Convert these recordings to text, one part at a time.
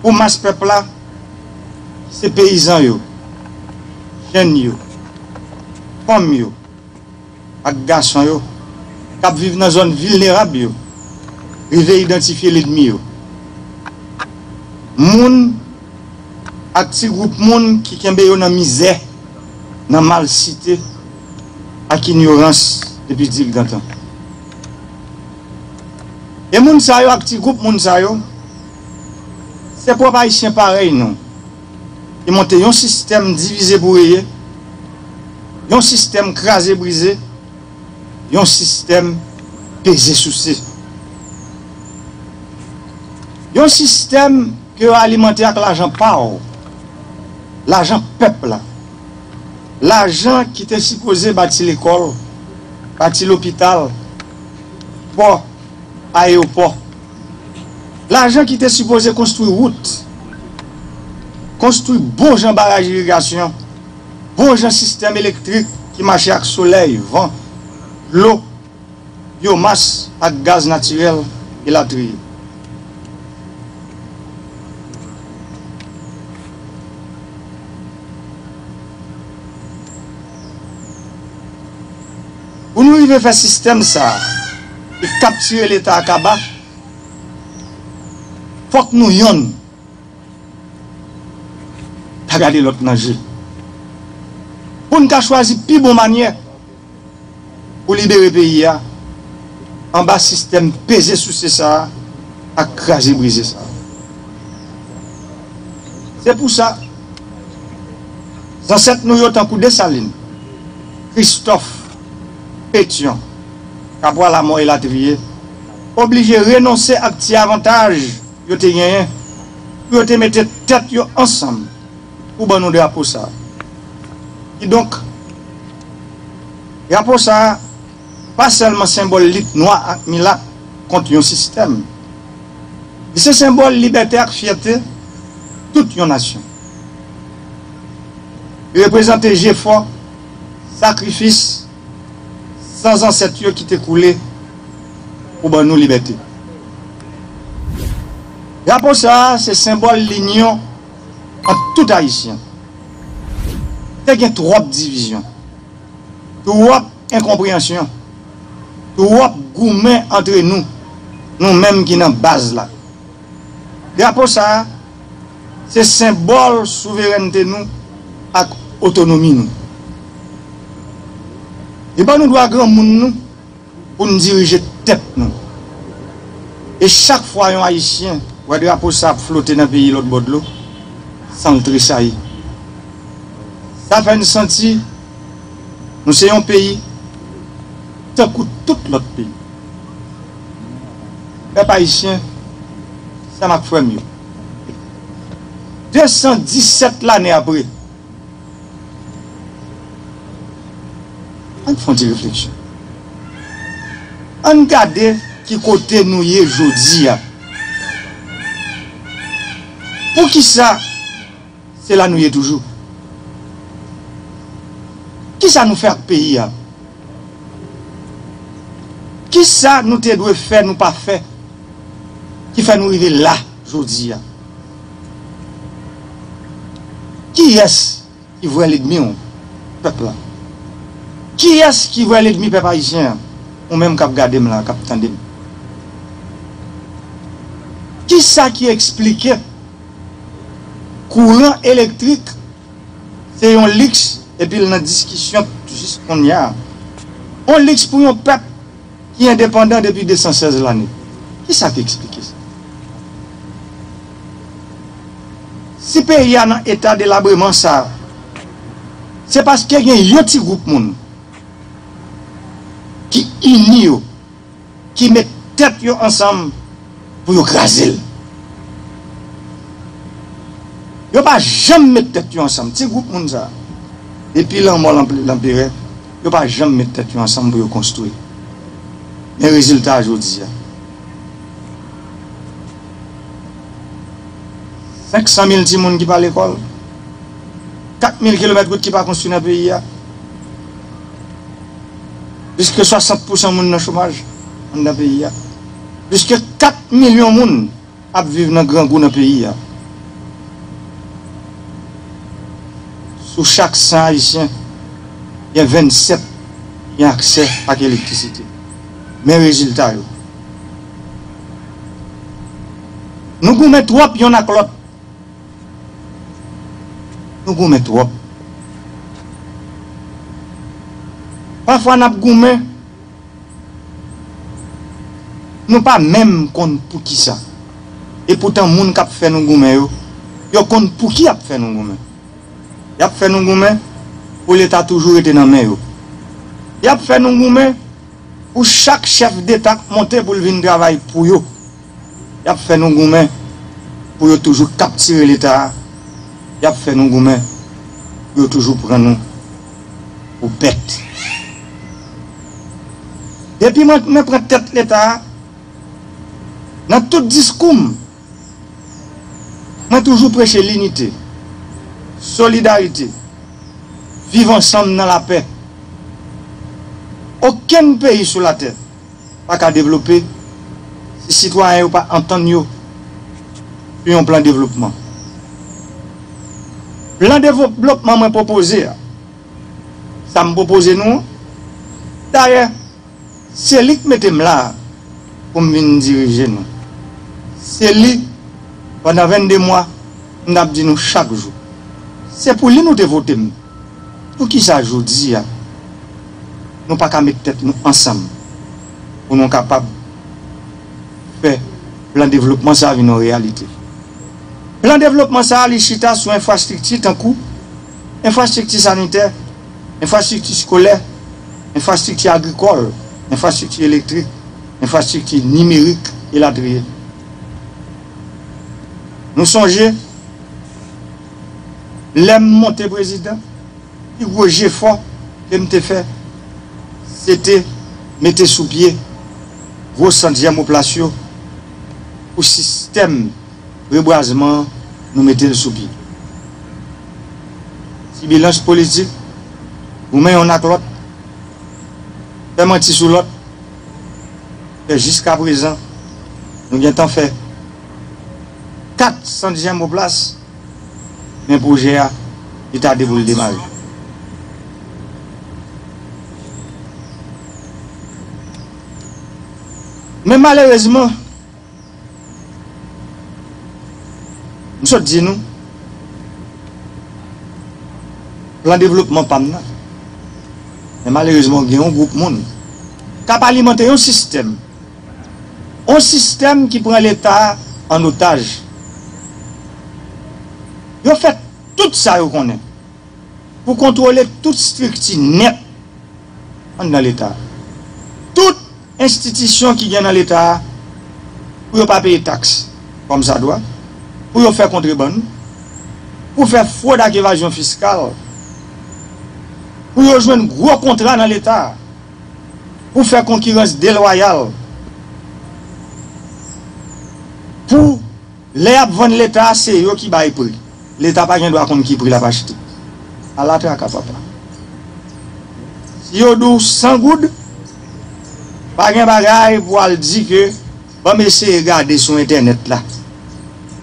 Pou mas pèp la, se peyizan yo, jenn yo, fanm yo ak gason yo k ap viv nan zòn vilnerab yo rive idantifye ledmi yo. Moun ak ti gwoup moun ki kenbe yo nan mizè, nan malsite ak inyorans depi dil gantan. E moun sa yo ak ti gwoup moun sa yo, se pwòp Ayisyen parèy nou ki monte yon sistèm divize pou reye, yon sistèm kraze brize, yon sistèm peze souse. Yon sistèm ke yo alimante ak lajan pa w, lajan pèp la, lajan ki te sipoze bati lekòl, bati lopital, pò, ayewopò. Lajan ki te sipoze konstwi wout, konstwi bon jan baraj irigasyon, bon jan sistèm elektrik ki mache ak solèy, van, dlo, byomas ak gaz natirèl, elatriye. Pou nou rive fè sistèm sa a ki kaptire leta a kaba, fòk nou yonn ta gade lòt nan je, pou n ka chwazi pi bon manyè pou libere peyi a anba sistèm peze souse sa a ak kraze brize sa a. Se pou sa. Zansèt nou yo tankou Desalin, Kristòf, Petyon, Kabwa Lamò elatriye, oblije renonse ak ti avantaj yo te genyen pou yo te mete tèt yo ansanm pou ban nou drapo sa a. Kidonk, drapo sa a. pa sèlman senbòl lit nwa ak milat kont yon sistèm. Li se senbòl libète ak fyète tout yon nasyon. Li reprezante jefò, sakrifis, san zansèt yo ki te koule pou ban nou libète. Drapo sa a se senbòl linyon ant tout Ayisyen. Te gen twòp divizyon, twòp. Enkonpreyansyon, twòp goumen antre nou, nou menm ki nan baz la. Drapo sa a, se senbòl souverènte nou ak otonomi nou. Li ban nou dwa granmoun nou pou n dirije tèt nou. E chak fwa yon Ayisyen wè drapo sa ap flote nan peyi lòt bò dlo, san l tresayi. Sa fè n santi. Nou se yon peyi tankou tout lòt peyi. Pèp Ayisyen, sè m ak frè m yo, 217 lane apre, ann fè yon ti refleksyon. Ann gade ki kote nou ye jodi a. Poukisa? Se la nou ye toujou. Kisa nou fè ak peyi a? Kisa nou te dwe fè nou pa fè ki fè nou rive la jodi a? Kiyès ki vrè ledmi w? Pèp la. Kiyès ki vrè ledmi pèp ayisyen an? Ou menm k ap gade m la, k ap tande m. Kisa ki eksplike Kouran elektrik se yon liks epi l nan diskisyon jis konnya. On liks pou yon pèp ki endepandan depi 216 lane. Kisa k eksplike sa? Si peyi a nan eta delabreman sa, se paske gen yon ti gwoup moun ki ini yo. ki met tèt yo ansanm pou yo kraze l. Yo pa janm met tèt yo ansanm, ti gwoup moun sa a, depi lanmò lanperè, yo pa janm met tèt yo ansanm pou yo konstwi. Men rezilta a jodi a. 500 mil timoun ki pa lekòl, 4 mil kilomèt wout ki pa konstwi nan peyi a. Plis ke 60 pousan moun nan chomaj anndan peyi a. Plis ke 4 milyon moun ap viv nan grangou nan peyi a. Sou chak 100 Ayisyen, gen 27 ki gen aksè ak elektrisite. Men rezilta yo. Nou goumen twòp yonn ak lòt. Nou goumen twòp. Pafwa n ap goumen, nou pa menm konn poukisa. E poutan moun k ap fè nou goumen yo, yo konn pouki y ap fè nou goumen. Y ap fè nou goumen pou Leta toujou rete nan men yo. Y ap fè nou goumen pou chak chèf deta k monte pou l vin travay pou yo. Y ap fè nou goumen pou yo toujou kaptire Leta a, y ap fè nou goumen pou yo toujou pran nou pou bèt. Depi mwen pran tèt Leta a, nan tout diskou m, mwen toujou preche linite, solidarite, viv ansanm nan lapè. Okenn peyi sou latè. pa ka devlope si sitwayen yo pa antann yo sou yon plan devlopman. Plan devlopman mwen pwopoze a, sa m pwopoze nou an, dayè se li k mete m la a pou m vin dirije nou, se li pandan 22 mwa m t ap di nou chak jou, se pou li nou te vote m, poukisa jodi a? Nou pa ka met tèt nou ansanm pou nou kapab fè plan devlopman sa a vin yon reyalite. Plan devlopman sa a li chita sou enfrastrikti tankou, enfrastrikti sanitè, enfrastrikti skolè, enfrastrikti agrikòl, enfrastrikti elektrik, enfrastrikti nimerik, elatriye. Nou sonje lè m monte prezidan. Pi gwo jefò ke m te fè se te mete sou pye gwo sant jèmoplas yo pou sistèm rebwazman an nou mete l sou pye. Sibilans politik, goumen yonn ak lòt, fè manti sou lòt, fè jiskaprezan nou gentan fè 4 sant jèmoplas. Men pwojè a, li tade pou l demare. Men malerezman, m sot di nou, plan devlopman pa m nan, men malerezman gen yon gwoup moun k ap alimante yon sistèm. On sistèm ki pran leta an otaj. Yo fè tout sa yo konnen pou kontwole tout strikti nèt anndan leta. Tout enstitisyon ki gen nan leta pou yo pa peye taks kòmsadwa, pou yo fè kontrebann, pou fè fwod ak evazyon fiskal, pou yo jwenn gwo kontra nan leta. pou fè konkirans delwayal pou lè yap vann leta se yo ki bay pri leta pa gen dwa konn ki pri lap achte ala traka papa si yo di w 100 goud pa gen bagay pou al di ke banm eseye gade sou entènèt la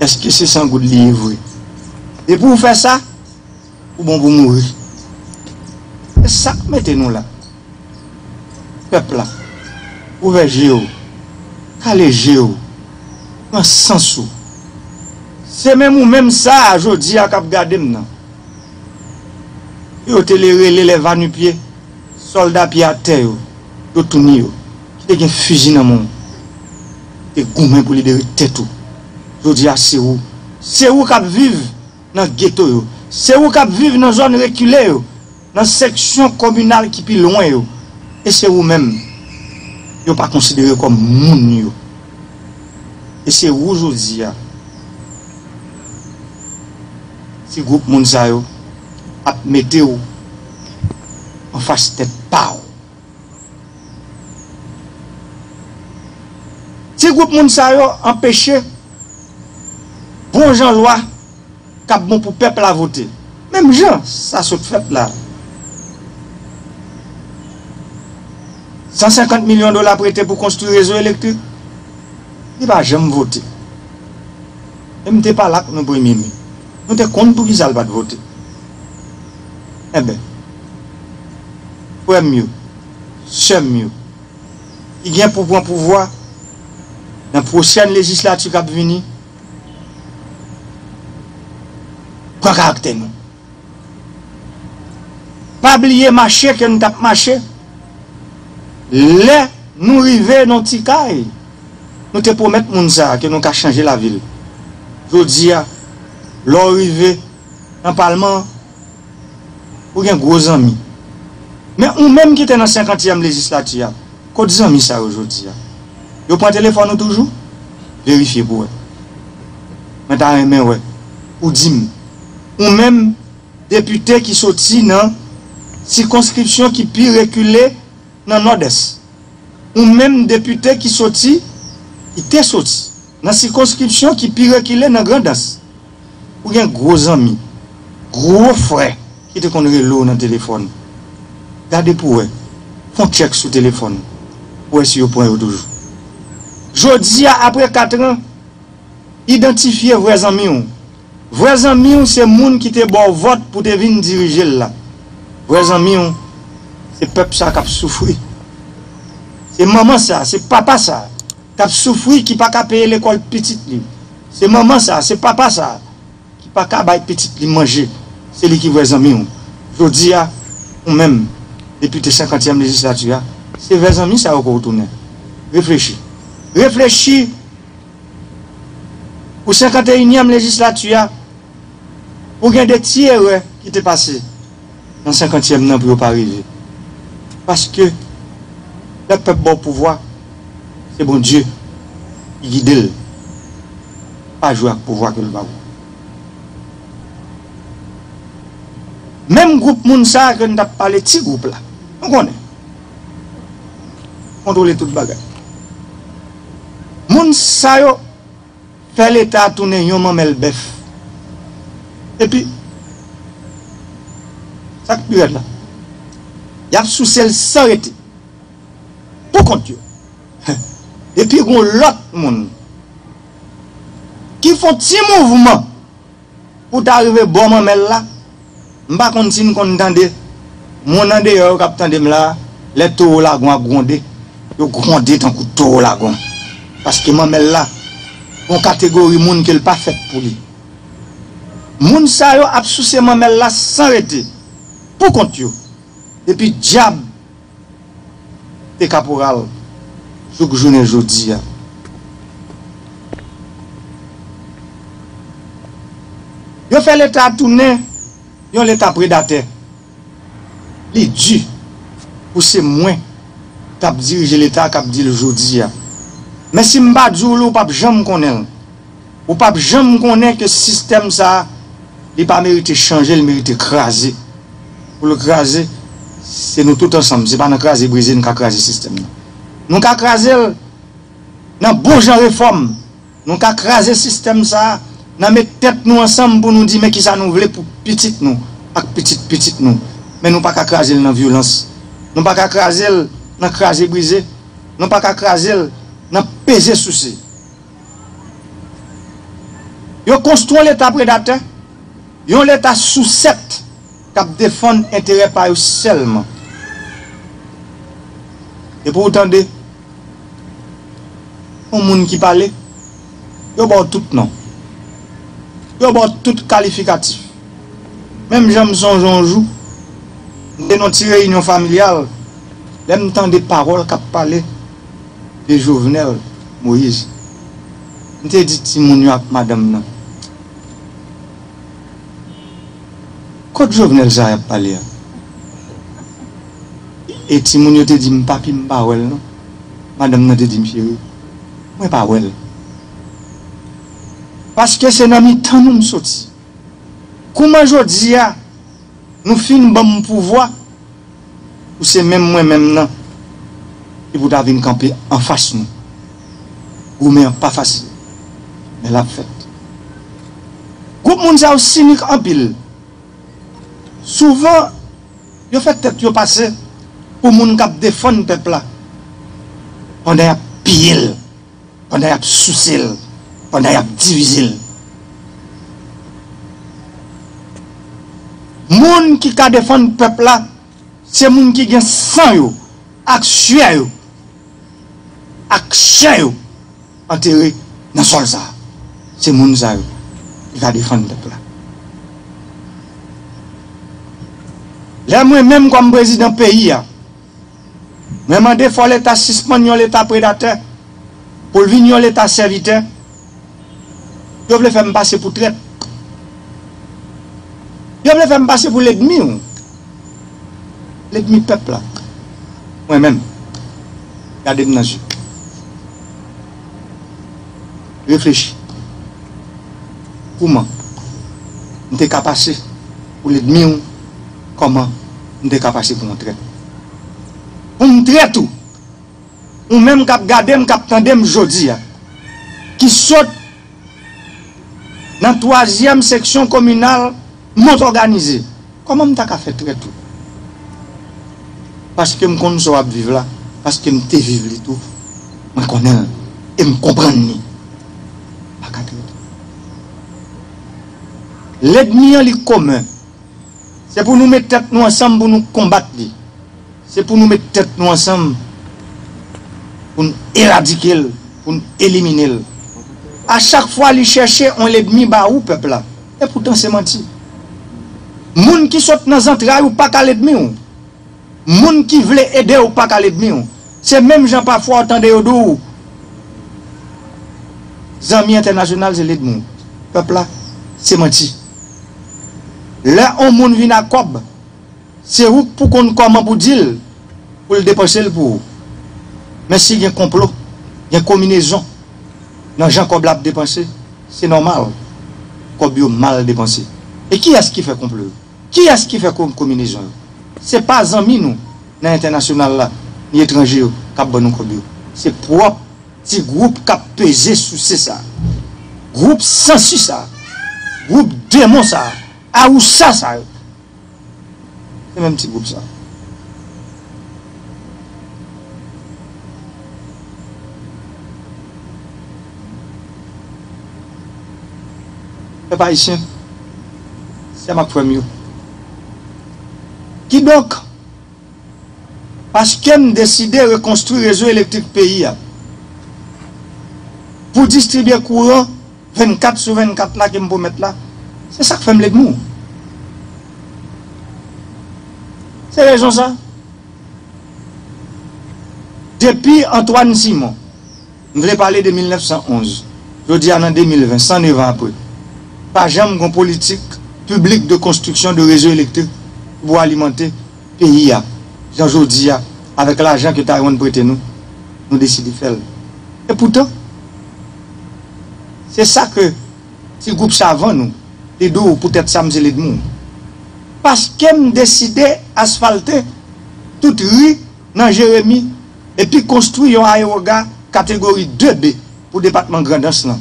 eske se 100 goud li ye vre depi w fè sa. Ou bon pou mouri. Se sak mete nou la. Pèp la. Ouvè je ou. Kale je ou. Pran sans ou. Se menm ou menm sa a jodi a kap gade m nan. Ke yo te le rele les vanupye. Solda pye a tè yo. Yo touni yo. Ki te gen fiji nan men. Ki te goumen pou libere tèt ou. Jodi a se ou. Se ou kap viv. nan geto yo, se ou k ap viv nan zòn rekile yo, nan seksyon kominal ki pi lwen yo, e se ou menm yo pa konsidere kòm moun yo. E se ou jodi a ti gwoup moun sa yo ap mete w anfas tèt pa w. Ti gwoup moun sa yo anpeche bon jan lwa k ap bon pou pèp la vote, menm jan sa sot fèt la. 150 milyon dola prete pou konstwi rezo elektrik, li pa janm vote. E m te pale ak nou premye mi, nou te konn poukisa l pa t vote. Enben, frè m yo, sè m yo, ki gen pou pran pouvwa nan pwochèn lejislati k ap vini, pran karaktè nou. Pa bliye mache ke nou t ap mache lè nou rive nan ti kay nou te pwomèt moun sa a ke nou ka chanje lavi l. Jodi a, lè w rive. nan palman an, ou gen gwo zanmi. Men ou menm ki te nan senkantyèm lejislati a, kot zanmi sa yo jodi a? Yo pran telefòn ou toujou? Verifye pou wè. Mwen ta renmen wè ou di m, ou menm depite ki soti nan sikonskripsyon ki pi rekile nan Nòdès, ou menm depite ki soti, ki te soti. Nan sikonskripsyon ki pi rekile nan Grandans, ou gen gwo zanmi, gwo frè ki te konn rele w nan telefòn. Gade pou w wè, fè yon tchèk sou telefòn ou pou w wè si yo pran yo toujou. Jodi a, apre katran, idantifye vrè zanmi w. Vrè zanmi w se moun ki te ba w vòt pou w te vin dirije l la. Vrè zanmi w se pèp sa k ap soufri. Se manman sa, se papa sa. kap soufri ki paka peye lekòl pitit li se manman sa se papa sa ki paka bay pitit li manje se li ki vrè zanmiw jodi a ou menm depite senkantyèm lejislati a se vè zanmi sa yo ke ou tounen reflechi reflechi pou senkanteyinyèm lejislati a pou gen de ti erè ki te pase. nan senkantyèm nan pou yo pa rive paske lè pèp baw pouvwa se Bondye ki gidel pa jwe ak pouvwa kel baw menm gwoup moun sa ke nou tap pale ti gwoup la nou konnen kontwole tout bagay moun sa yo. Fè leta tounen yon manmèl bèf. Epi, sa k pi rèd la, y ap souse l san rete, pou kont yo. Epi gen yon lòt moun ki fè yon ti mouvman. Pou ta rive bò manmèl la, m pa konn si n konn tande moun andeyò yo k ap tande m la a, lè towo lagon ap gwonde. Yo gwonde tankou towo lagon. Paske manmèl la gon kategori moun ke l pa fèt pou li. Moun sa yo ap souse manmèl la san rete, pou kont yo. Depi dyab te kaporal jouk jounen jodi a. Yo fè leta a tounen yon leta predatè. Li di pou se mwen k ap dirije leta a k ap di l jodi a. Men si m pa di w li w p ap janm konnen l. Ou pap janm konnen ke sistèm sa a li pa merite chanje, li merite kraze. Pou l kraze, se nou tout ansanm, se pa nan kraze brize n ka kraze sistèm nan. Nou ka kraze l nan bon jan refòm, nou ka kraze sistèm sa a nan met tèt nou ansanm pou nou di men kisa nou vle pou pitit nou ak pitit pitit nou. Men nou pa ka kraze l nan vyolans, nou pa ka kraze l nan kraze brize, nou pa ka kraze l nan peze souse. Yo konstwi yon leta predatè, yon leta sousèt k ap defann enterè pa yo sèlman. Depi ou tande yon moun ki pale, yo ba w tout non, yo ba w tout kalifikatif. Menm jan m sonje yon jou, m te nan yon ti reyinyon familyal, lè m tande pawòl k ap pale. de Jovenel Moïse m te di timoun yo ak madanm nan kot Jovenel sa yap pale a e timoun yo te di m papi m pa wèl non madanm nan te di m cheri mwen pa wèl paske se nan mitan nou m soti kouman jodi a nou fin banm pouvwa Ou se menm mwen menm nan ki pou ta vin kanpe anfas nou. Goumen an pa fasil, men l ap fèt. Gwoup moun sa yo sinik anpil. Souvan, yo fè tèt yo pase pou moun k ap defann pèp la pandan y ap piye l. pandan yap souse l pandan yap divize l moun ki ka defann pèp la se moun ki gen san yo ak suè yo ak chè yo antere nan sòl sa se moun sa yo ki ka defann pèp la lè mwen menm kòm prezidan peyi a. Mwen mande fò leta sispann yon leta predatè pou l vin yon leta sèvitè. Yo vle fè m pase pou trèt. Yo vle fè m pase pou ledmi w. Ledmi pèp la. Mwen menm. Gade m nan je. Reflechi. Kouman. M te ka pase. Pou ledmi w kòman m te ka pase pou yon trèt pou m trèt ou ou menm kap gade m kap tande m jodi a ki sot nan twazyèm seksyon kominal mont òganize kòman m ta ka fè trèt ou paske m konn sa w ap viv la paske m te viv li tou mwen konnen l e m konprann li m pa ka trèt ou. Ledmi an li komen. Se pou nou met tèt nou ansanm pou nou konbat li. Se pou nou met tèt nou ansanm pou n eradike l, pou n elimine l. A chak fwa li chèche on ledmi ba ou pèp la. Epoutan se manti. Moun ki sot nan zantray ou pa ka ledmi w. Moun ki vle ede w pa ka ledmi w. Se menm jan pafwa w tande yo di w zanmi entènasyonal se ledmi w pèp la, se manti. Lè on moun vin ak kòb, se ou k pou konn kòman pou di l pou l depanse l pou ou. Men si gen konplo, gen kominezon nan jan kòb la ap depanse, se nòmal kòb yo mal depanse. E kiyès ki fè konplo yo? Kiyès ki fè konminezon yo? Se pa zanmi nou nan entènasyonal la ni etranje yo k ap ban nou kòb yo. Se pwòp ti gwoup k ap peze souse sa a, gwoup sansi sa a, gwoup demon sa a, awousa sa yo. Se menm ti gwoup sa a. Pèp Ayisyen, sè m ak frè m yo, kidonk, paske m deside rekonstwi rezo elektrik peyi a pou distribye kouran 24 sou 24 la ke m pwomèt la, se sa k fè m ledmou. Se rezon sa, depi Antwàn Simon, M vle pale de 1911. Jodi a nan 2020, 109 an apre, pa janm gon politik piblik de konstriksyon de rezo elektrik ki pou alimante peyi a jan jodi a avèk lajan ke Taiwan prete nou, nou deside fè l. E poutan, se sa ke ti gwoup savan nou, Ledou, poutèt sa m se Ledmou. Paske m deside asfalte tout ri nan Jeremi. epi konstwi yon ayewoga kategori 2 B pou depatman Grandans lan.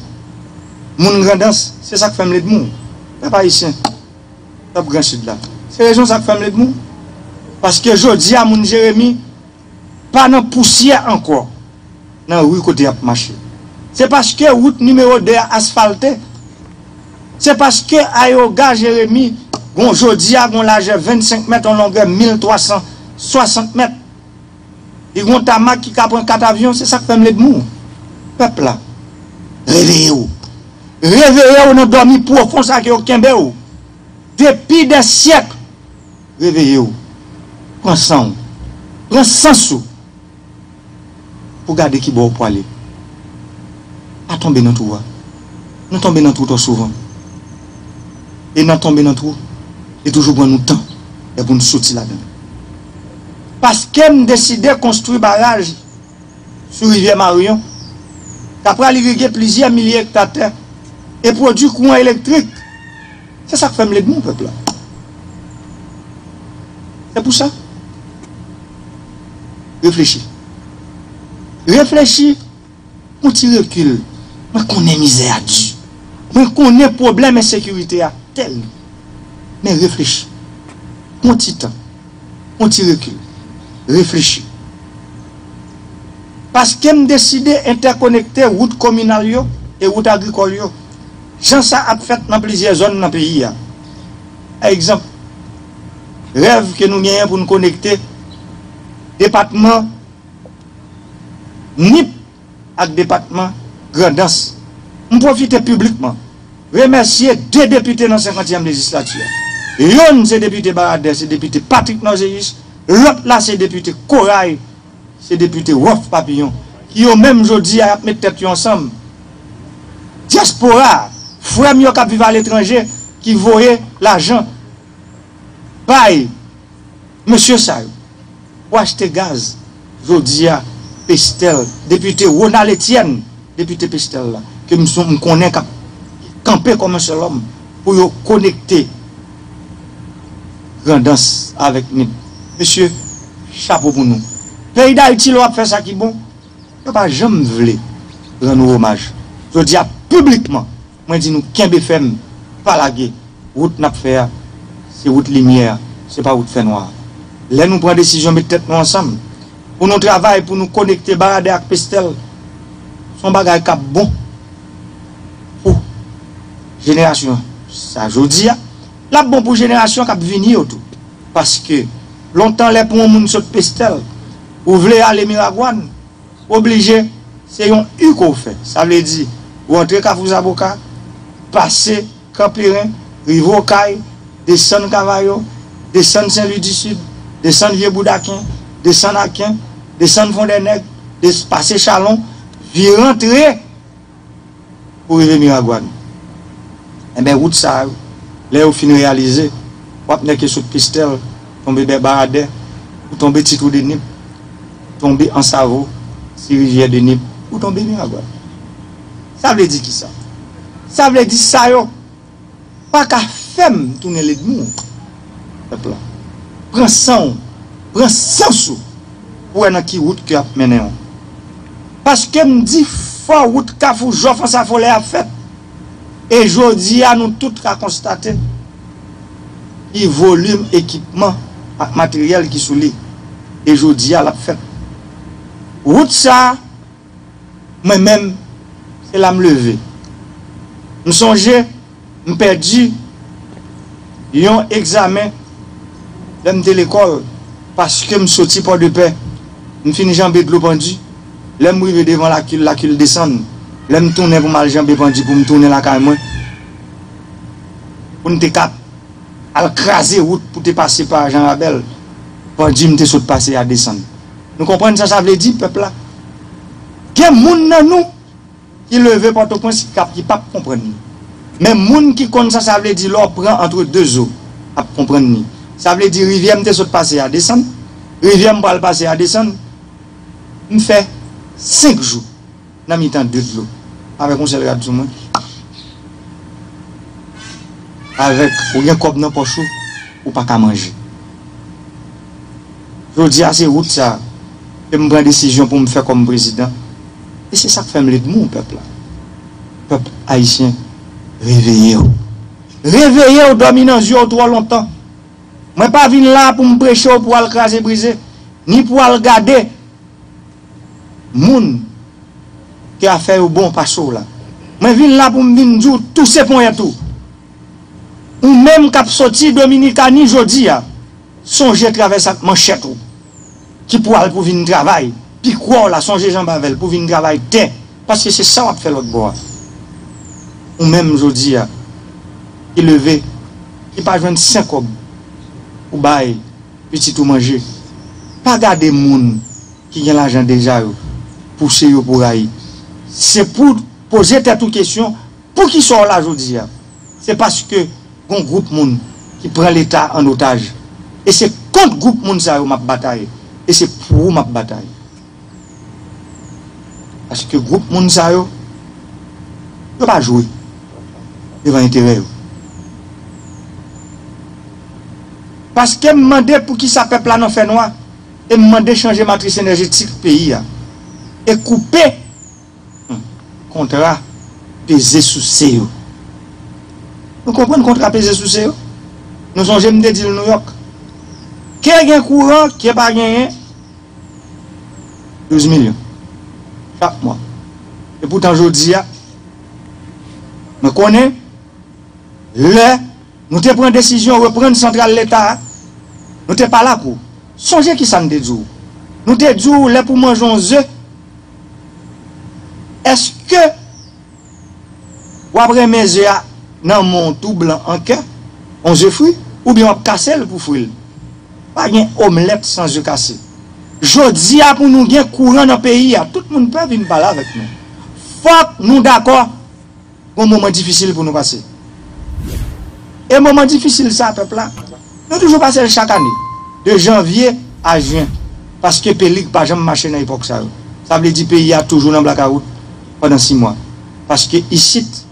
Moun Grandans, se sa k fè m led mou, pèp ayisyen, pèp Gran Sid la, se rezon sa k fè m led mou, paske jodi a moun Jeremi pa nan pousyè ankò nan ri kote y ap mache. Se paske wout nimewo 2 a asfalte, se paske ayewoga Jeremi gon jodi a gon lajè 25 mèt, yon longè 1360 mèt. Li gon tamak ki ka pran 4 avyon se sak fèm led mou pèp la reveyew reveyew nan dòmi pwofon sa ke yo kenbew depi dè syèk reveyew pran sanw pran sans ou pou gade kibò ou pwale pa tonbe nan twou a nou tonbe nan twou twò souvan. e nan tonbe nan twou li toujou pran nou tan lè pou n soti ladan l. Paske m deside konstwi baraj sou rivyè Maryon k ap pral irige plizyè milye ekta tè e pwodwi kouran elektrik, se sa k fè m led moun pèp la. Se pou sa, reflechi. Reflechi! Yon ti rekil, mwen konnen mizè a di, mwen konnen pwoblèm ensekirite a tèlman. Men reflechi. Yon ti tan. Yon ti rekil. Reflechi. Paske m deside entèkonekte wout kominal yo e wout agrikòl yo, jan sa ap fèt nan plizyè zòn nan peyi a. Pa egzanp, rèv ke nou genyen pou n konekte depatman. Nip ak depatman Grandans. M pwofite piblikman remèsye 2 depite nan senkantyèm lejislati a. Yonn se depite Baradè se depite Patrick Norzéus, lòt la se depite Corail se depite Roff Papillon ki yo menm jodi a y ap met tèt yo ansanm. Dyaspora a, frè m yo k ap viv aletranje ki voye lajan bay. Mesye sa yo pou achte gaz jodi a Pestel depite Ronald Etienne depite Pestel la ke m son m konnen k ap kanpe kòm yon sèl òm pou yo konekte Grandans avèk Nip mesye chapo pou nou Peyi Dayiti lè w ap fè sa ki bon yo pa janm vle rann ou omaj jodi a piblikman. Mwen di nou kenbe fèm, pa lage. Wout n ap fè a, se wout limyè, se pa wout fènwa. Lè nou pran desizyon met tèt nou ansanm pou nou travay pou nou konekte Baradè ak Pestèl, s on bagay k ap bon pou jenerasyon sa jodi a, l ap bon pou jenerasyon k ap vini yo tou. Paske, lontan lè pou on moun sot Pestèl, ou vle ale Miragwàn, oblije se yon u ke w fè. Sa vle di ou antre Kafou Zaboka, pase Kanperen, rive Okay, desann Kavayo, desann Sen Lwi di Sid, desann Vye Boudaken, desann Aken, desann Fondènèg, pase Chalon, vire antre. pou rive Miragwàn. Enben wout sa yo, lè yo fin reyalize, w ap nèke sot Pestèl, tonbe Bè Baradè, ou tonbe Ti Twou de Nip, tonbe Ansavo, Ti Rivyè de Nip, ou tonbe Miragwàn. Sa vle di kisa? Sa vle di sa yo! paka fèm tounen ledmi w pèp la pran san w pran sans ou pou wè nan ki wout ke yap mennen w paskem di fò wout kafou jòf ansafolè a fèt e jodia nou tout ka konstate ki volim ekipman ak materyèl ki sou li e jodia lap fèt wout sa. Mwen menm, se la m leve. M sonje m pèdi yon egzamen lè m te lekòl paske m soti Pòdepè, m fin janbe dlo Pandi, lè m rive devan Lakil, Lakil desann, lè m tounen pou m al janbe Pandi pou m tounen lakay mwen, pou n te ka al kraze wout pou te pase pa Janrabèl, Pandi m te sot pase a desann. Nou konprann sa sa vle di pèp la? Gen moun nan nou ki leve Pòtoprens ki kap ki pap konprann ni. Men moun ki konn sa sa vle di lè w pran antre 2 zo ap konprann ni. Sa vle di rivyè m te sot pase a desann, rivyè m pral pase a desann. M fè 5 jou. Nan mitan de dlo. Avèk yon sèl rad sou mwen. Avèk ou gen kòb nan pòch ou, ou pa ka manje. Jodi a se wout sa ke m pran desizyon pou m fè kòm prezidan e se sa k fè m ledmi pèp la. Pèp ayisyen reveye w! Reveye w dòmi nan zye w twò lontan. Mwen pa vin la pou m preche w pou w al kraze brize, ni pou w al gade. Moun ke afè yo bon pase w la. Mwen vin la pou m vin di w touse ponyèt ou. Ou menm k ap soti Dominikani jodi a, sonje travèse ak manchèt ou ki pou al pou vin travay pikwa w la, sonje janbe avè l pou vin travay tè paske se sa w ap fè lòt bò a. Ou menm jodi a ki leve, ki pa jwenn senkòb pou bay pitit ou manje. Pa gade moun ki gen lajan deja yo pouse yo pou rayi. Se pouw poze tèt ou kesyon poukisa w la jodi a? Se paske gon gwoup moun ki pran leta an otaj e se kont gwoup moun sa yo map batay e se pou ou map batay. Paske gwoup moun sa yo, yo pa jwe devan enterè yo. Paske m mande poukisa pèp la nan fènwa e m mande chanje matris enèjetik peyi a e koupe Kontra peze souse yo. Nou konprann kontra peze souse yo? Nou sonje m te di l Nouyòk? Ke gen kouran, ke pa genyen, 12 milyon chak mwa. Epoutan jodi a, mwen konnen lè nou te pran desizyon reprann santral Leta a, nou te pale ak ou. Sonje kisa n te di w? Nou te di w lè pou w manje yon ze, Eske wap renmen ze a nan men w tou blan an kè on ze fri oubyen wap kase l pou fri l? Pa gen omlèt san ze kase. Jodi a pou nou gen kouran nan peyi a tout moun pè vin pale avèk nou. Fòk nou dakò Gon moman difisil pou nou pase. E moman difisil sa pèp la, nou toujou pase l chak ane, de janvye a jyen, paske pelig pa janm mache nan epòk sa yo. Sa vle di peyi a toujou nan blakawout pandan si mwa. Paske isit,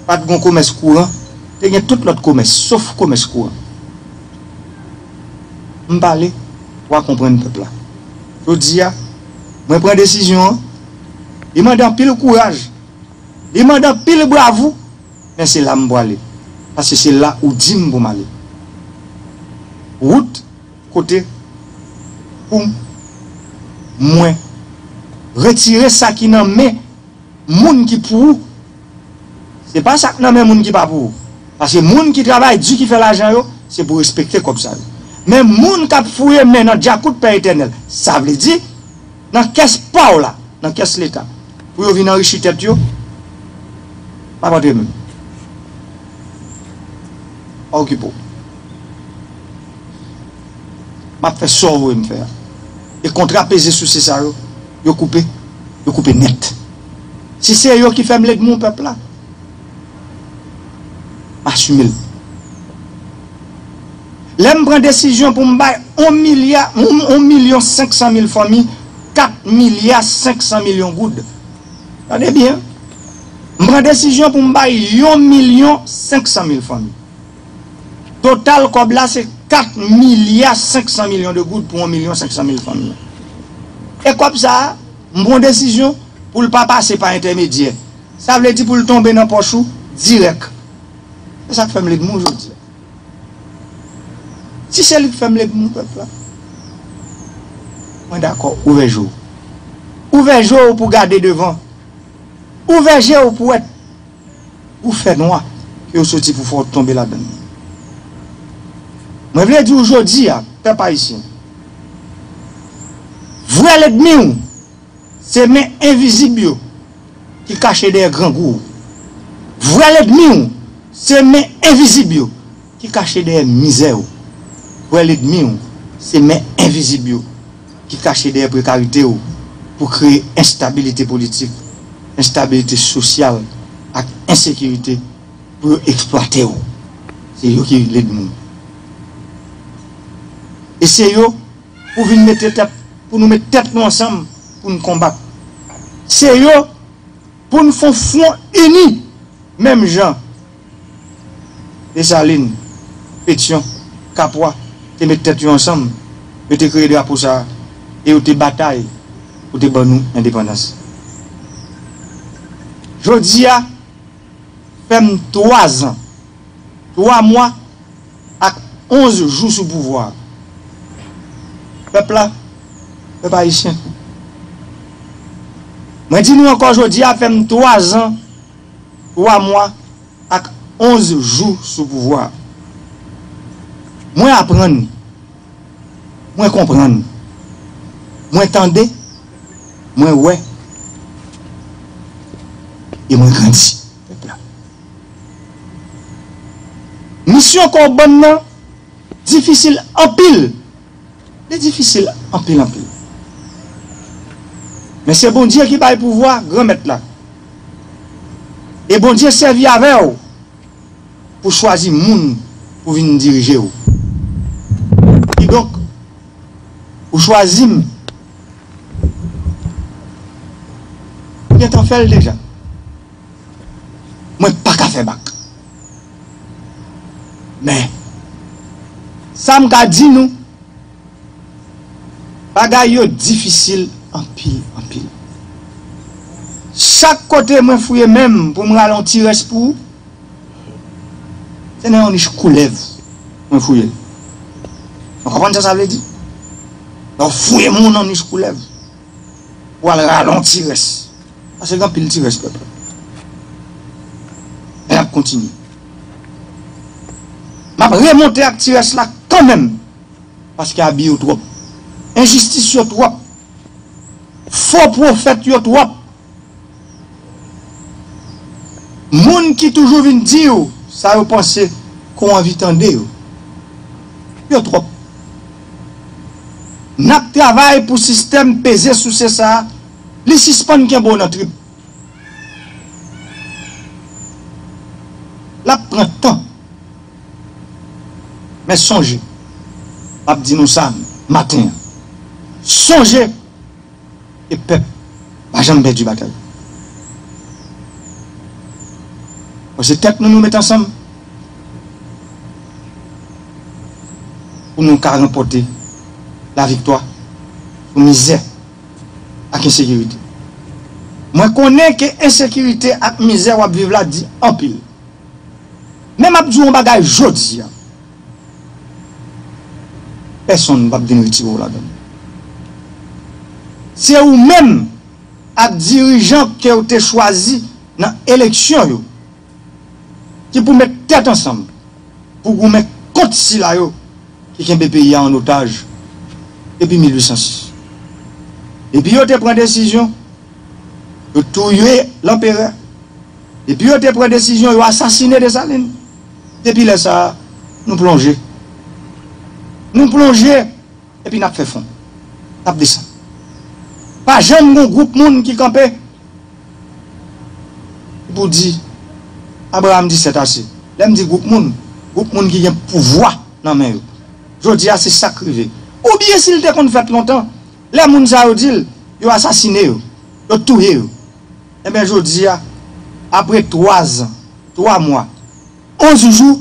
pa t gon komès kouran, te gen tout lòt komès, sof komès kouran. M pale, wa konprann pèp la. Jodi a, mwen pran desizyon an, li mande anpil kouraj. Li mande anpil bravou, men se la m pwale, paske se la ou di m pou m ale. Wout kote pou mwen retire sa ki nan men moun ki pou ou, se pa sa k nan men moun ki pa pou ou. Paske moun ki travay di ki fè lajan yo, se pou respekte kòb sa yo. Men moun k ap fouye men nan djakout Pè Etènèl, sa vle di. Nan kès paw la, nan kès leta. Pou yo vin anrichi tèt yo. Map antre menm. Pa okipe w. Map fè sa w voye m fè a. E kontra peze souse sa yo, yo koupe, yo koupe nèt. Si se yo ki fè m legman w pèp la. Asumel. Lè m pran desizyon pou m bay on milya, on milyon senk san mil fanmi kat milya senk san milyon goud. Tande byen. M pran desizyon pou m bay yon milyon senk san mil fanmi. Total kòb la se kat milya senk san milyon de goud pou on milyon senk san mil fanmi. E kòb sa a, m pran desizyon pou l pa pase pa entèmedyè. Sa vle di pou l tonbe nan pòch ou dirèk. Se sa k fè m legman w jodi a. Si se li k fè m legman w pèp la, mwen dakò. Ouvè je w. Ouvè je w pou w gade devan. Ouvè je w pou w wè twou fènwa ke yo soti pou fè w tonbe ladan l. Mwen vle di w jodi a, pèp ayisyen, vrè legmi w, Se men envizib yo ki kache dèyè grangou ou. Vrè ledmi ou se men envizib yo ki kache dèyè mizè ou. Vrè ledmi ou se men envizib yo ki kache dèyè prekarite ou pou kreye enstabilite politik, enstabilite sosyal ak ensekirite pou yo eksplwate ou. Se yo ki ledmi ou. E se yo. pou vin mete tèt pou nou met tèt nou ansanm pou n konbat se yo pou n fon fwon ini menm jan Desalin, Petyon, Kapwa te met tèt yo ansanm yo te kreye drapo sa e yo te batay pou te ban nou endepandans jodi a fè m 3 zan 3 mwa Ak 11 jou sou pouvwa a. Pèp la, pèp ayisyen. Mwen di nou ankò jodi a fè m 3 zan, 3 mwa ak 11 jou sou pouvwa a. Mwen aprann, mwen konprann, mwen tande, mwen wè e mwen grandi. pèp la. Misyon kò bann nan difisil anpil, li difisil anpil anpil. Men se Bondye ki bay pouvwa Granmèt la. E Bondye sèvi avè w pou chwazi moun pou vin dirije w. Kidonk, ou chwazi m. Ou gentan fè l deja. mwen paka fè bak men sam ka di nou bagay yo difisil anpil anpil chak kote mwen fouye menm poum rale yon ti rès pou ou se nan yon nich koulèv mwen fouyel nou konprann sa sa vle di lè ou fouye moun nan nich koulèv pou al rale yon ti rès Pase gen anpil ti rès pèp la. Men nap kontinye. Map remonte ak ti rès la kanmenm. Paske abi yo twòp. Enjistis yo twòp. Fo pwofèt yo twòp. Moun ki toujou vin di yo sa yo panse ke w anvi tande yo. Yo twòp. Nap travay pou sistèm peze souse sa a. Li sispann kenbe w nan trip. L ap pran tan. Men sonje, m ap di nou sa maten an, sonje ke pèp pa janm pèdi batay. Bon se tèt nou nou met ansanm pou nou ka ranpòte laviktwa sou mizè ak ensekirite. Mwen konnen ke ensekirite ak mizè wap viv la di anpil. Men map diw yon bagay jodi a, pèsonn pap vin retire w ladan l. Se ou menm ak dirijan kew te chwazi nan eleksyon yo. ki pou met tèt ansanm pou goumen kont sila yo ki kenbe peyi a an otaj depi 1806. Depi yo te pran desizyon yo touye Lanperè, depi yo te pran desizyon yo asasine Desalin, depi lè sa a, nou plonje. Nou plonje epi n ap fè fon. N ap desann. Pa janm gen yon gwoup moun ki kanpe. pou di, Abraram di sèt ase. Lè m di gwoup moun, gwoup moun ki gen pouvwa nan men yo. Jodi a se sa k rive. Oubyen si l te konn fèt lontan, lè moun sa yo di l, yo asasine yo, yo touye yo. Enben jodi a, apre twa zan, twa mwa, onz jou,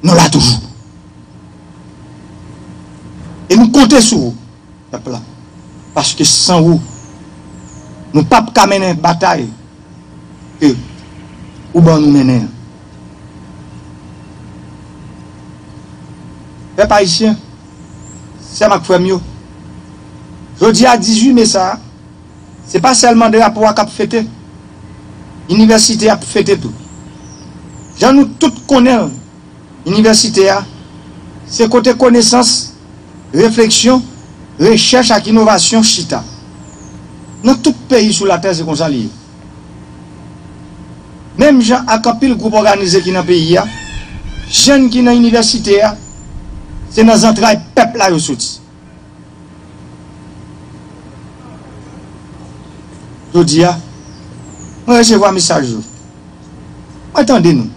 nou la toujou. E nou konte sou ou. Pèp la. Paske san ou. Nou pap ka mennen batay ke ou ban nou mennen an. Pèp Ayisyen, sè m ak frè m yo, jodi a 18 me sa a, se pa sèlman drapo a k ap fete, inivèsite a ap fete tou. Jan nou tout konnen l. Inivèsite a, se kote konesans, refleksyon, rechèch ak inovasyon chita. Nan tout peyi sou latè se konsa li ye. Menm jan ak anpil gwoup òganize ki nan peyi a, jèn ki nan inivèsite a, se nan zantray pèp la yo soti. Jodi a, mwen resevwa mesaj yo. Mwen tande nou.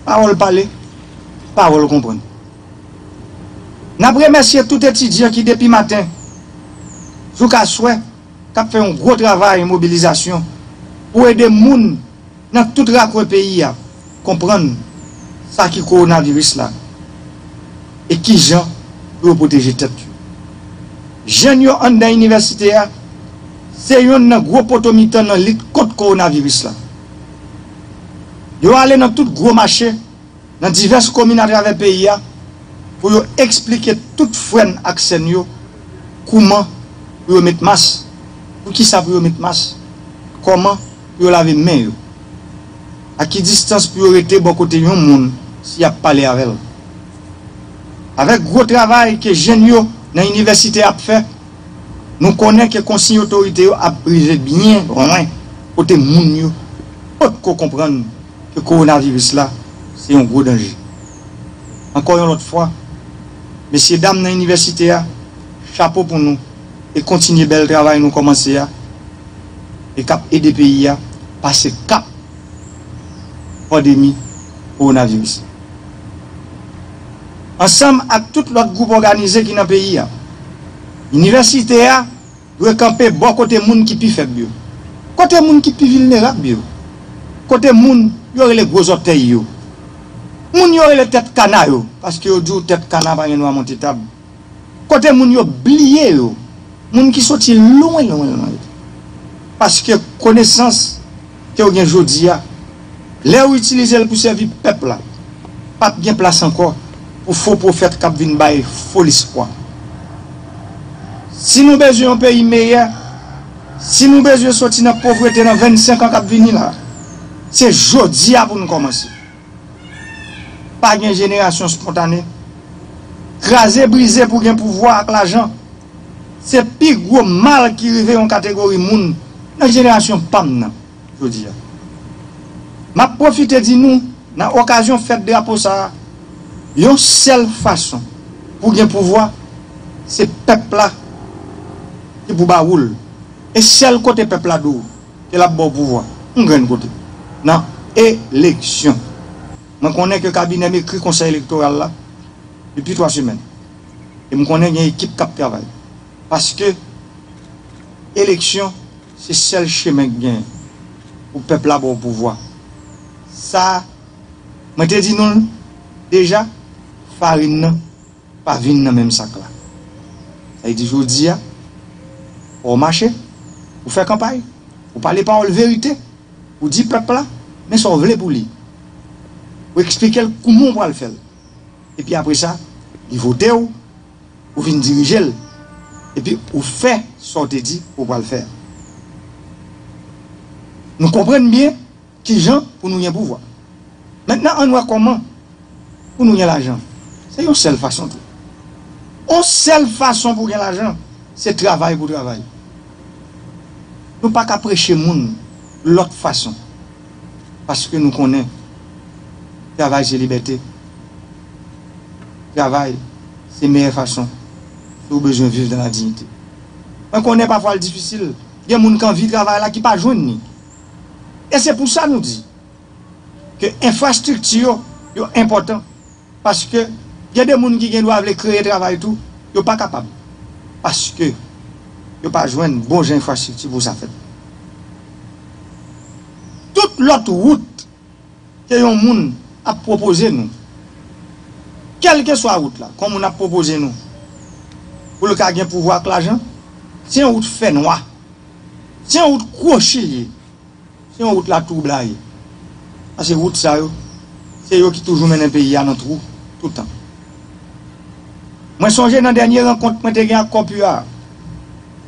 Pawòl pale, pawòl konprann. N ap remèsye tout etidyan ki depi maten jouk aswè k ap fè yon gwo travay mobilizasyon pou ede moun nan tout rakwen peyi a konprann sa ki kowonaviris la e ki jan pou yo pwoteje tèt yo. Jèn yo anndan inivèsite a se yonn nan gwo poto mitan nan lit kont kowonaviris la. Yo ale nan tout gwo mache nan divès komin atravè peyi a pou yo eksplike tout frè n ak sè n yo kouman pou yo met mas, poukisa pou yo met mas, kòman. pou yo lave men yo? A ki distans pou yo rete bò kote yon moun si y ap pale avè l? Avèk gwo travay ke jenn yo nan inivèsite ap fè, nou konnen ke konsiy otorite yo ap rive byen lwen kote moun yo pot ko konprann ke kowonaviris la se yon gwo danje. Ankò yon lòt fwa, mesye dam nan inivèsite a, chapo pou nou e kontinye bèl travay nou kòmanse a e k ap ede peyi a pase kap pandemi kowonaviris. Ansanm ak tout lòt gwoup òganize ki nan peyi a, Inivèsite a dwe kanpe bò kote moun ki pi fèb yo, kote moun ki pi vilnerab yo, kote moun yo rele gwo zòtèy yo, moun yo rele tèt kana yo, paske yo di w tèt kana pa gen dwa monte tab. Kote moun yo bliye yo, moun ki soti lwen lwen lwen yo. Paske konesans ke ou gen jodi a, lè ou itilize l pou sèvi pèp la, p ap gen plas ankò pou fo pwofèt k ap vin bay fo lespwa. Si nou bezwen yon peyi meyè, si nou bezwen soti nan povrete nan 25 an k ap vini la, se jodi a pou nou kòmanse. Pa gen jenerasyon spontane. Kraze brize pou gen pouvwa ak lajan, se pi gwo mal ki rive yon kategori moun nan jenerasyon pa m nan jodi a. M ap pwofite di nou nan okazyon fèt drapo sa a, yon sèl fason pou gen pouvwa, se pèp la ki pou ba wou l. E sèl kote pèp la dou. ke lap baw pouvwa yon grenn kote nan eleksyon. Mwen konnen ke kabinèm ekri konsèy elektoral la depi 3 semèn e m konnen gen ekip kap travay paske eleksyon se sèl chemen k genyen pou pèp la baw pouvwa sa mwen te di nou l deja farin nan. Pa vin nan menm sak la. Sa vle di jodi a, fò w mache, pou w fè kanpay, pou w pale pawòl verite, pou w di pèp la men sa w vle pou li, pou w eksplike l kouman w pral fè l. Epi apre sa, li vote w, ou vin dirije l, epi ou fè sa w te di ou pral fè a. Nou konprann byen? Kijan pou nou gen pouvwa? Mentnan ann wè kòman pou nou gen lajan. Se yon sèl fason tou. On sèl fason pou gen lajan, se travay pou travay. Nou pa ka preche moun lòt fason paske nou konnen travay se libète. Travay se meyè fason si ou bezwen viv dan la diyite. Mwen konnen pafwa l difisil, gen moun k anvi travay la ki pa jwenn ni. E se pou sa nou di ke enfrastrikti yo, yo enpòtan paske gen de moun ki gen dwa vle kreye travay tou, yo pa kapab paske yo pa jwenn bon jan enfrastrikti pou sa fèt. Tout lòt wout ke yon moun ap pwopoze nou, kèlkeswa wout la, kon moun ap pwopoze nou pou l ka gen pouvwa ak lajan, se yon wout fènwa Se yon wout kwochi li ye. Se yon wout latwoublay. Pase wout sa yo, se yo ki toujou mennen peyi a nan twou, tout tan. Mwen sonje nan dènye rankont mwen te gen ak Corpu a,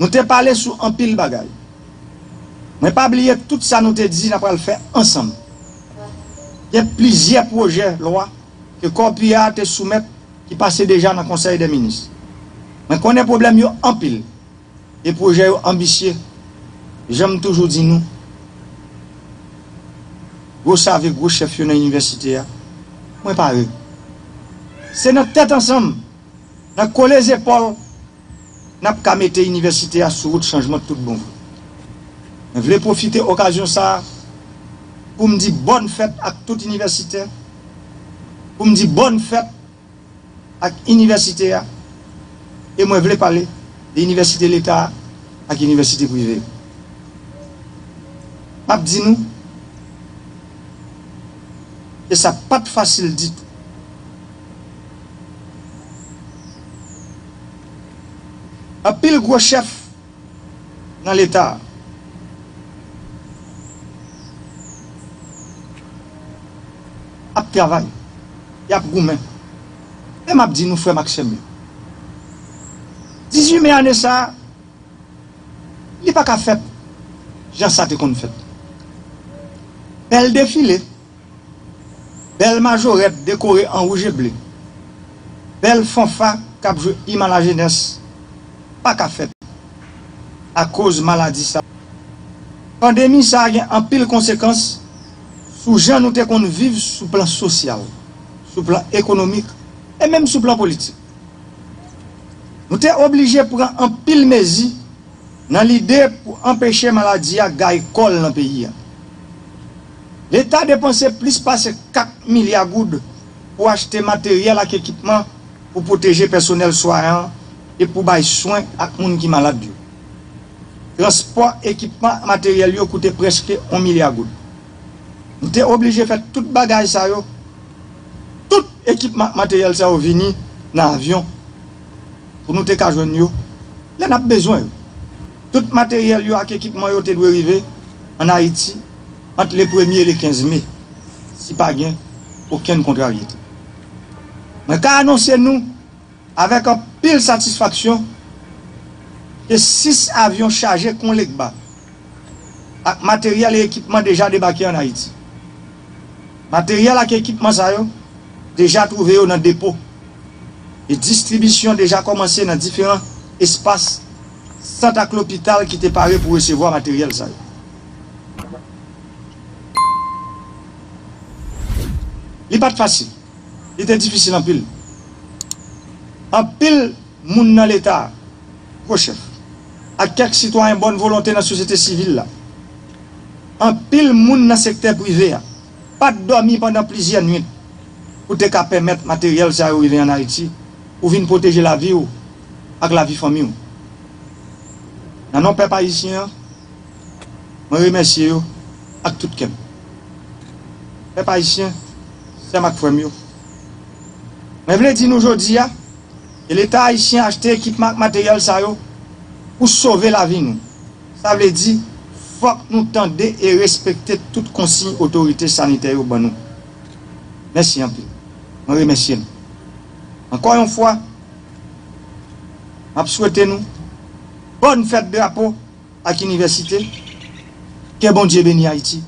nou te pale sou anpil bagay. Mwen pa bliye tout sa nou te di n a pral fè ansanm. Gen plizyè pwojè lwa ke Corpu a te soumèt ki pase deja nan Konsèy dè Minis. Mwen konnen pwoblèm yo anpil. E pwojè yo anbisye. Jan m toujou di nou, gwo save, gwo chèf yo nan inivèsite a, mwen pare. Se nan tèt ansanm, nan kole zepòl, n ap ka mete inivèsite a sou wout chanjman tout bon vre. Mwen vle pwofite okazyon sa a pou m di bòn fèt ak tout inivèsitè, pou m di bòn fèt. ak inivèsite a e mwen vle pale de inivèsite leta a ak inivèsite prive yo. M ap di nou ke sa pa t fasil ditou. Anpil gwo chèf. nan leta a. Ap travay. Y ap goumen. Men m ap di nou frè m ak sè m yo. 18 me ane sa a, li pa ka fèt jan sa te konn fèt. Bèl defile. Bèl majorèt dekore an wouj e ble, bèl fanfa k ap jwe im a la jenès pa ka fèt akoz maladi sa. Pandemi sa gen anpil konsekans sou jan nou te konn viv sou plan sosyal, sou plan ekonomik e menm sou plan politik. Nou te oblije pran anpil mezi nan lide pou anpeche maladi a gaye kò l nan peyi a. Leta depanse plis pase 4 milya goud pou achte materyèl ak ekipman pou pwoteje pèsonèl swayan e pou bay swen ak moun ki malad yo. Transpò ekipman ak materyèl yo koute prèske 1 milya goud. Nou te oblije fè tout bagay sa yo, tout ekipman ak materyèl sa yo vini nan avyon pou nou te ka jwenn yo lè n ap bezwen yo. Tout materyèl yo ak ekipman yo te dwe rive ann Ayiti. ant le premye e le 15 me, si pa gen okenn kontraryete. Mwen ka anonse nou avèk anpil satisfaksyon ke 6 avyon chaje kon legba ak materyèl e ekipman deja debake an Ayiti. Materyèl ak ekipman sa yo deja twouve yo nan depo e distribisyon deja kòmanse nan diferan espas, sant ak lopital ki te pare pou resevwa materyèl sa yo. Li pa t fasil. Li te difisil anpil. Anpil moun nan Leta a, gwo chèf, ak kèk sitwayen bòn volonte nan sosyete sivil la, anpil moun nan sektè prive a, pa t dòmi pandan plizyè nuit pou te ka pèmèt materyèl sa yo rive ann Ayiti pou vin pwoteje lavi ou ak lavi fanmi ou. Nan non pèp ayisyen an. Mwen remèsye yo ak tout kè m. Pèp Ayisyen, sè m ak frè m yo, mwen vle di nou jodi a ke Leta Ayisyen achte ekipman ak materyèl sa yo pou sove lavi nou. Sa vle di, fòk nou tande e respekte tout konsiy otorite sanitè yo ban nou. Mèsi anpil. Mwen remèsye nou. Ankò yon fwa, m ap swete nou Bòn Fèt Drapo! ak inivèsite kè bondye beni ayiti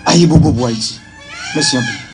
ayibobo pou ayiti mèsi anpil.